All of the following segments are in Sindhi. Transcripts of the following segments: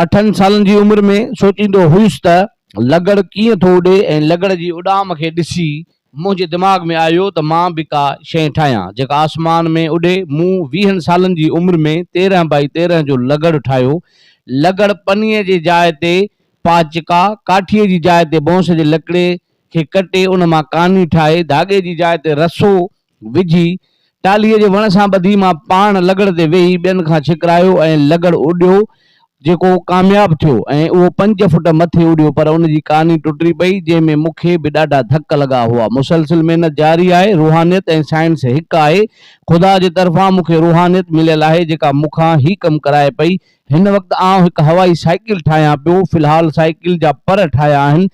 اٺن سالن جي عمر ۾ سوچيندو هيس ته لغڙ ڪيئن ٿو اڏي ۽ لغڙ جي اڏام کي ڏسي منهنجي دماغ ۾ آيو ته مان به ڪا شيء ٺاهيان جيڪا آسمان ۾ اڏي. مون ويهن سالن جي عمر ۾ تيرهن بائي تيرهن جو لغڙ ٺاهيو. لغڙ پني جي جاء تي پاچڪا، ڪاٺيء جي جاء تي بونس جي لڪڙي کي ڪٽي ان مان ڪاني ٺاهي ڌاڳي جي جاء تي رسو وجهي ٽالهي جي وڻ سان ٻڌي مان پاڻ لغڙ تي ويهي ٻين کان ڇڪرايو ۽ لغڙ اڏيو جيڪو ڪامياب ٿيو ۽ اهو پنج فٽ مٿي اڏيو پر ان جي ڪاني ٽٽي پئي جنهن ۾ مون کي به ڏاڍا ڌڪ لڳا هئا مسلسل محنت جاري آهي روحانيت ۽ سائنس هڪ آهي خدا جي طرفان مون کي روحانيت مليل آهي جيڪا مون کان هي ڪم ڪرائي پئي هن وقت آئون هڪ هوائي سائيڪل ٺاهيان پيو في الحال سائيڪل جا پر ٺاهيا آهن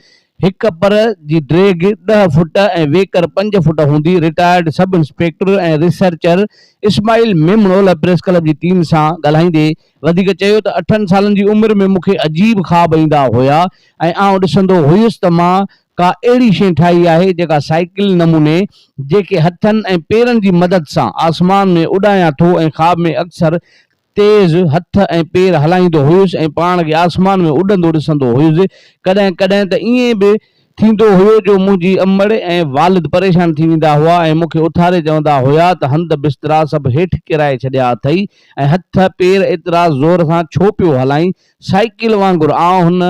هڪ پر جي ڊيگهه ڏهه فوٽ ۽ ويڪر پنج فوٽ هوندي، retired sub inspector ۽ researcher Ismail ميمڻو لاء پريس ڪلب جي ٽيم سان ڳالهائيندي وڌيڪ چيو ته اٺن سالن جي عمر ۾ مون کي عجيب خواب ايندا هيا ۽ آئون ڏسندو هيس ته مان ڪا اهڙي شيء ٺاهي آهي جيڪا سائيڪل نموني جيڪي هٿن ۽ پيرن جي مدد سان آسمان ۾ اڏايان ٿو ۽ خواب ۾ اڪثر تيز هٿ ۽ پير هلائيندو هيس ۽ پاڻ کي آسمان ۾ اڏندو ڏسندو هيس. ڪڏهن ڪڏهن ته ائين به ٿيندو هيو جو منهنجي امڙ ۽ والد پريشان ٿي ويندا هئا ۽ مون کي اٿاري چوندا هيا ته هنڌ بسترا سڀ هيٺ ڪيرائي ڇڏيا اٿئي ۽ هٿ پير ايترا زور سان ڇو پيو هلائين؟ سائيڪل وانگر آئون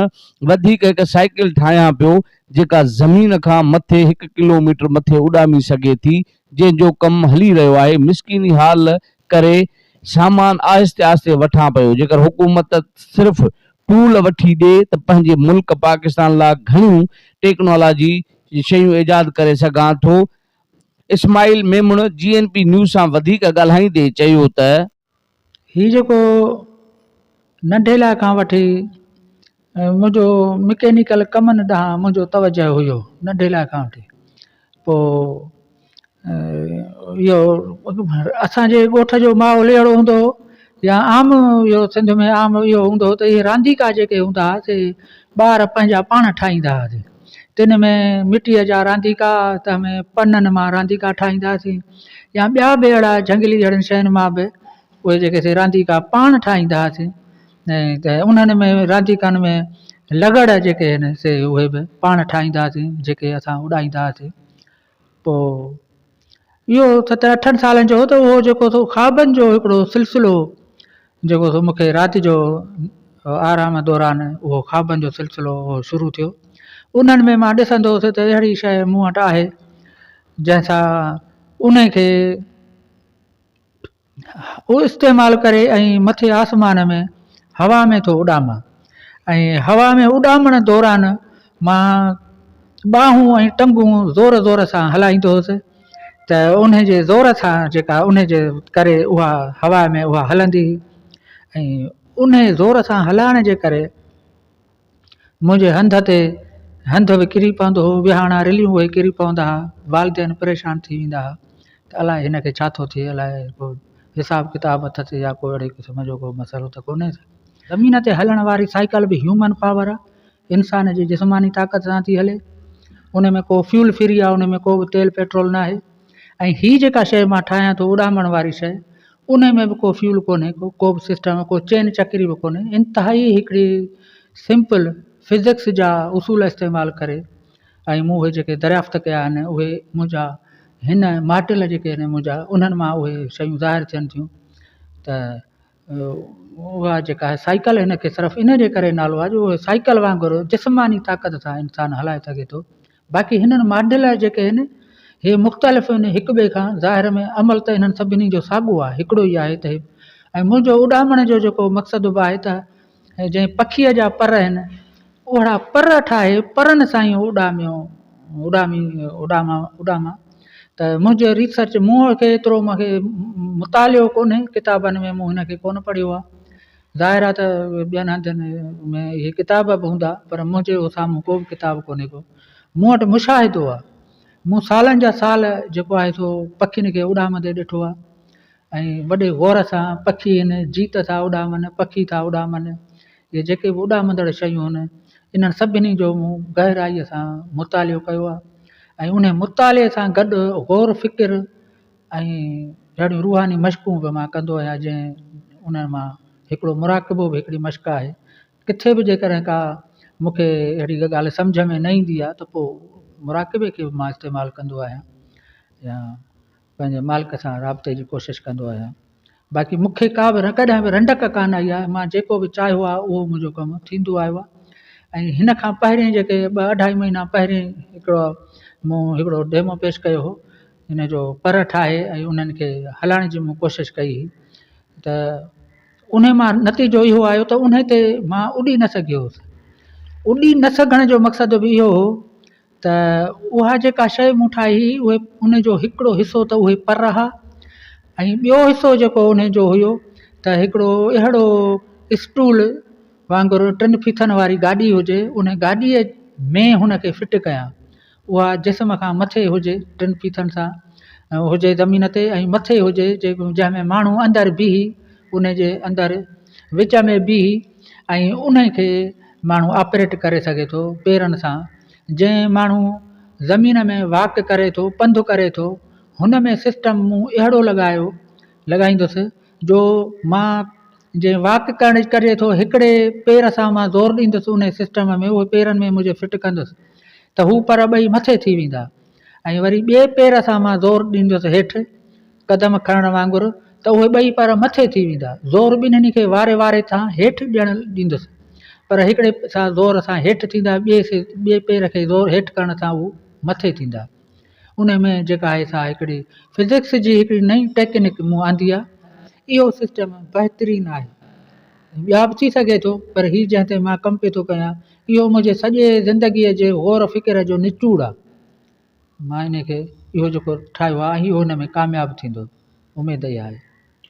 وڌيڪ هڪ سائيڪل ٺاهيان پيو جيڪا زمين کان مٿي هڪ ڪلوميٽر مٿي اڏامي سگهي ٿي جنهن جو ڪم هلي رهيو آهي، مسڪيني حال ڪري سامان آهستي آهستي وٺان پيو، جيڪر حڪومت صرف ٽول وٺي ڏي ته پنهنجي ملڪ پاڪستان لاء گهڻيون ٽيڪنالاجي جون شيون ايجاد ڪري سگهان ٿو، اسماعيل ميمڻ جي اين پي نيوز سان وڌيڪ ڳالهائيندي چيو ته. ھي جيڪو ننڍي لاء کان وٺي منھنجو مڪينيڪل ڪمن ڏانھن منھنجو توجه ھيو ننڍي لاء کان وٺي پوء ايو اسانجي ڳوٺ جو ماحول اھڙو ھوندو ھو يا عام ايو سنڌ ۾ عام ايو ھوندو ھو تھ اھي رانديڪا جيڪي ھوندا ھا سي ٻار پنھنجا پاڻ ٺاھيندا ھا سي تن ۾ مٽيء جا رانديڪا ته همه پنن مان رانديڪا ٺاهيندا سين يا ٻيا به اهڙا جهنگلي اهڙين شين مان به اهي جيڪي سي رانديڪا پاڻ ٺاهيندا سين ۽ ته انهن ۾ رانديڪن ۾ لغڙ جيڪي هن سي اهي به پاڻ ٺاهيندا سين جيڪي اسان اڏائيندا سين پوء اهو ستن اٺن سالن جو هو ته اهو جيڪو سو خوابن جو هڪڙو سلسلو جيڪو سو مون کي رات جو آرام دوران اهو خوابن جو سلسلو اهو شروع ٿيو انهن ۾ مان ڏسندو هوس ته اهڙي شيء مون وٽ آهي جنهن سان انهي کي اهو استعمال ڪري ۽ مٿي آسمان ۾ هوا ۾ ٿو اڏامان ۽ هوا ۾ اڏامڻ دوران مان ٻانهون ۽ ٽنگون زور زور سان هلائيندو هوس ته ان جي زور سان جيڪا ان جي ڪري اها هوا ۾ اها هلندي هئي ۽ ان زور سان هلائڻ جي ڪري منهنجي هنڌ تي هنڌ به ڪري پوندو هو، ويهاڻا رليون اهي ڪري پوندا ها، والدين پريشان ٿي ويندا ها ته الاء هن کي ڇا ٿو ٿئي، الاء ڪو حساب ڪتاب اٿس يا ڪو اهڙي قسم جو ڪو مسئلو ته ڪونهي ته. زمين تي هلڻ واري سائيڪل به هيومن پاور آ، انسان جي جسماني طاقت سان ٿي هلي، ان ۾ ڪو فيول فري آ، ان ۾ ڪو به تيل پيٽرول ناهي ۽ هي جيڪا شيء مان ٺاهيان ٿو اڏامڻ واري شيء، انهي ۾ به ڪو فيول ڪونهي ڪو به سسٽم ڪو چين چڪري به ڪونهي انتهائي هڪڙي سمپل فزڪس جا اصول استعمال ڪري ۽ مون اهي جيڪي دريافت ڪيا آهن اهي منهنجا هن ماڊل جيڪي آهن منهنجا انهن مان اهي شيون ظاهر ٿين ٿيون ته اها جيڪا سائيڪل هن کي صرف انهي جي ڪري نالو آهي جو سائيڪل وانگر جسماني طاقت سان انسان هلائي سگهي ٿو باقي هنن ماڊل جيڪي آهن هي مختلف آهن هڪ ٻئي کان ظاهر ۾ عمل ته هنن سڀني جو ساڳو آهي هڪڙو ئي آهي ته هي ۽ منهنجو اڏامڻ جو جيڪو مقصد به آهي ته جئين پکيء جا پر آهن اهڙا پر ٺاهي پرن سان ئي اڏاميو اڏامي اڏامان اڏامان ته منهنجو ريسرچ مون کي ايترو مونکي مطالعو ڪونهي ڪتابن ۾ مون هن کي ڪونه پڙهيو آهي ظاهر آهي ته ٻين هنڌن ۾ اهي ڪتاب به هوندا پر منهنجي سامهون ڪو به ڪتاب ڪونهي ڪو، مون وٽ مشاهدو آهي، مون سالن جا سال جيڪو آهي سو پکين کي اڏامندي ڏٺو آهي ۽ وڏي غور سان پکي هن جيت ٿا اڏامن، پکي ٿا اڏامن، اهي جيڪي به اڏامندڙ شيون آهن انهن سڀني جو مون گهرائيء سان مطالعو ڪيو آهي ۽ انهي مطالعي سان گڏ غور فڪر ۽ جهڙيون روحاني مشقون به مان ڪندو آهيان جنهن انهن مان هڪڙو مراقبو به هڪڙي مشق آهي ڪٿي به جيڪڏهن ڪا مونکي اهڙي ڪا ڳالهه سمجهه ۾ نه ايندي آهي ته پوء مراقبي کي به مان استعمال ڪندو آهيان يا پنهنجي مالڪ سان رابطي جي ڪوشش ڪندو آهيان باقي مون کي ڪا به ڪڏهن به رنڊڪ ڪا نه آئي آهي مان جيڪو به چاهيو آهي اهو منهنجو ڪم ٿيندو آيو آهي ۽ هن کان پهرين جيڪي ٻه اڍائي مهينا پهرين هڪڙو مون هڪڙو ڊيمو پيش ڪيو هو هن جو پر ٺاهي ۽ انهن کي هلائڻ جي مون ڪوشش ڪئي هئي ته ان مان نتيجو اهو آيو ته ان تي مان اڏي نه سگهيو هوس اڏي نه سگهڻ جو مقصد به اهو هو ته اها جيڪا شيء مون ٺاهي هئي اهي ان جو هڪڙو حصو ته اهي پر رها ۽ ٻيو حصو جيڪو ان جو هيو ته هڪڙو اهڙو اسٽول وانگر ٽن ڦيٿن واري گاڏي هجي ان گاڏيء ۾ هن کي فٽ ڪيا اها جسم کان مٿي هجي ٽن ڦيٿن سان هجي زمين تي ۽ مٿي هجي جنهن ۾ ماڻهو اندر بيهي ان جي اندر وچ ۾ بيهي ۽ انهي کي ماڻهو آپريٽ ڪري سگهي ٿو پيرن سان جنهن ماڻهو زمين ۾ واڪ ڪري ٿو پنڌ ڪري ٿو هن ۾ سسٽم مون اهڙو لڳايو لڳائيندس جو مان جنهن واڪ ڪرڻ ڪري ٿو هڪڙي پير سان مان زور ڏيندس انهي سسٽم ۾ اهي پيرن ۾ مجهي فٽ ڪندس ته هو پر ٻئي مٿي ٿي ويندا ۽ وري ٻئي پير سان مان زور ڏيندس هيٺ قدم کڻڻ وانگر ته اهي ٻئي پر مٿي ٿي ويندا. زور ٻنهي کي واري واري سان هيٺ ڏيڻ ڏيندس پر هڪڙي سان زور سان هيٺ ٿيندا ٻئي پير کي زور هيٺ ڪرڻ سان اهي مٿي ٿيندا. انهي ۾ جيڪا آهي سا هڪڙي فزڪس جي هڪڙي نئين ٽيڪنڪ مون آندي آهي. اهو سسٽم بهترين آهي. ٻيا به ٿي سگهي ٿو پر هي جنهن تي مان ڪم پيو ٿو ڪريان اهو منهنجي سڄي زندگيء جي غور فڪر جو نچوڙ آهي مان انهي کي اهو جيڪو ٺاهيو آهي ۽ اهو ان ۾ ڪامياب ٿيندو اميد اها آهي.